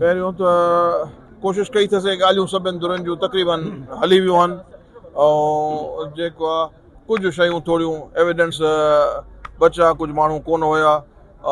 پهريون ته ڪوشش ڪئي ٿس اهي ڳالهيون سڀني ڌرين جون تقريباً هلي ويون آهن ۽ جيڪو آهي ڪجهه شيون ٿوريون ايويڊنس بچا ڪجهه ماڻهو ڪونه هيا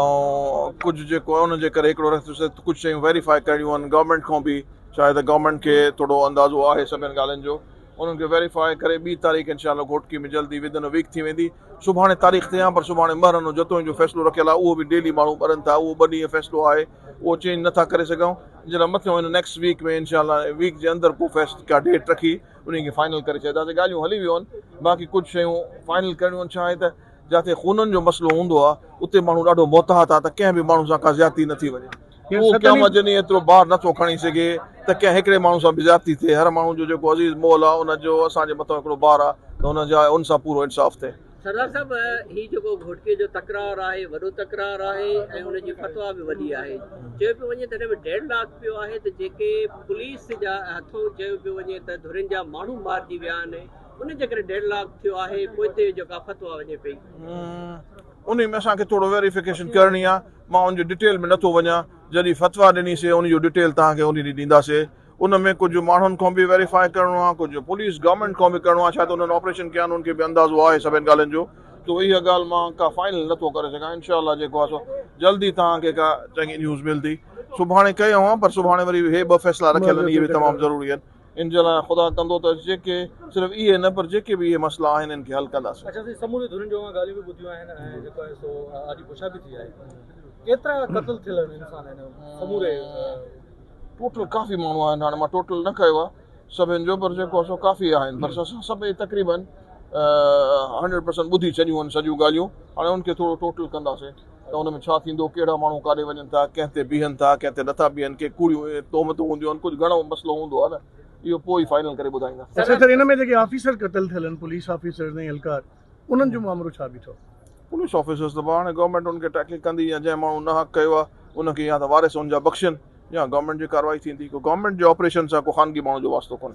۽ ڪجهه جيڪو آهي ان جي ڪري هڪڙو رستو سي ڪجهه شيون ويريفائي ڪرڻيون آهن گورنمينٽ کان به شايد ته گورنمينٽ کي ٿورو اندازو آهي سڀني ڳالهين جو انهن کي ويريفائي ڪري ٻي تاريخ انشاء الله گهوٽڪي ۾ جلدي ودن ا ويڪ ٿي ويندي سڀاڻي تاريخ ته آهي پر سڀاڻي مهرنو جتوئين جو فيصلو رکيل آهي اهو به ڊيلي ماڻهو ٻرن ٿا اهو ٻه ڏينهن فيصلو آهي اهو چينج نه ٿا ڪري سگهون جن لاء مٿيون هن نيڪسٽ ويڪ ۾ انشاء الله ويڪ جي اندر ڪو فيسٽ ڪا ڊيٽ رکي انهي کي فائنل ڪري ڇڏينداسين ڳالهيون هلي ويون آهن باقي ڪجهه شيون فائنل ڪرڻيون آهن ڇا آهي ته جاتي خونن جو مسئلو هوندو آهي اتي ماڻهو ڏاڍو محتاط آهي ته ڪنهن به ماڻهو سان ڪا زيادتي نه ٿي وڃي اهو قيامت جي ڏينهن ايترو بار نه ٿو کڻي سگهي ته ڪنهن هڪڙي ماڻهو سان به زيادتي ٿئي هر ماڻهو جو جيڪو عزيز مول آهي ان جو اسان جي مٿان هڪڙو بار آهي ته ان جا ان سان پورو انصاف ٿئي سردار صاحب هي جيڪو گهوٽڪي جو تڪرار آهي وڏو تڪرار آهي ۽ ان جي فتويٰ به وڏي آهي چيو پيو وڃي تڏهن به ڊيڊ لاڪ پيو آهي ته جيڪي پوليس جا هٿون چيو پيو وڃي ته ڌرين جا ماڻهو مارجي ويا آهن ان جي ڪري ڊيڊ لاڪ ٿيو آهي پوئتي جيڪا فتويٰ وڃي پئي انهي ۾ اسان کي ٿورو ويريفڪيشن ڪرڻي آهي مان ان جي ڊيٽيل ۾ نٿو وڃان جڏهن فتويٰ ڏني سي ان جو ڊيٽيل توهان کي انهي ڏينهن ڏينداسي. ان ۾ ڪجهه ماڻهن کان به ويريفائي ڪرڻو آهي، ڪجهه پوليس گورنمينٽ کان به ڪرڻو آهي، شايد انهن آپريشن ڪيا آهن انهن کي به اندازو آهي سڀين ڳالهين جو، سو اها ڳالهه مان ڪا فائنل نه ٿو ڪري سگهان، انشاء الله جيڪو آهي سو جلد ئي توهان کي ڪا چڱي نيوز ملندي، سڀاڻي ڪيا هئا پر سڀاڻي وري به هي ٻه فيصلا رکيل آهن اهي به تمام ضروري آهن، ان جي لاء خدا ڪندو ته جيڪي صرف اهي نه پر جيڪي به اهي مسئلا آهن ان کي حل ڪنداسين. اچا سائين سمورين ڌرين جون اوهان ڳالهيون به ٻڌيون آهن ۽ جيڪو آهي سو آڏي پڇا به ٿي آهي، ڪيترا قتل ٿيل آهن انسان هن سموري ٽوٽل ڪافي ماڻهو آهن هاڻي مان ٽوٽل نه ڪيو آهي سڀن جو پر جيڪو آهي سو ڪافي آهن پر اسان سڀئي تقريبا هنڊريڊ پرسنٽ ٻڌي ڇڏيون آهن سڄيون ڳالهيون هاڻي ان کي ٿورو ٽوٽل ڪنداسين ته ان ۾ ڇا ٿيندو ڪهڙا ماڻهو ڪاڏي وڃن ٿا ڪنهن تي بيهن ٿا ڪنهن تي نٿا بيهن ڪي ڪوڙيون تهمتون هونديون آهن ڪجهه گهڻو مسئلو هوندو آهي نه اهو پوء ئي فائنل ڪري ٻڌائيندا. سينيٽر ان ۾ جيڪي آفيسر قتل ٿيل آهن پوليس آفيسرز ۽ اهلڪار انهن جو مامرو ڇا بيٺو؟ پوليس آفيسرز ته هاڻي گورنمينٽ انهن کي ٽيڪلنگ ڪندي يا جنهن ماڻهو ناحق ڪيو آهي ان کي يا ته وارث ان جا بخشين يا گورنمينٽ جي ڪارروائي ٿيندي. ڪو گورنمينٽ جي آپريشن سان ڪو خانگي ماڻهو جو واسطو ڪونهي.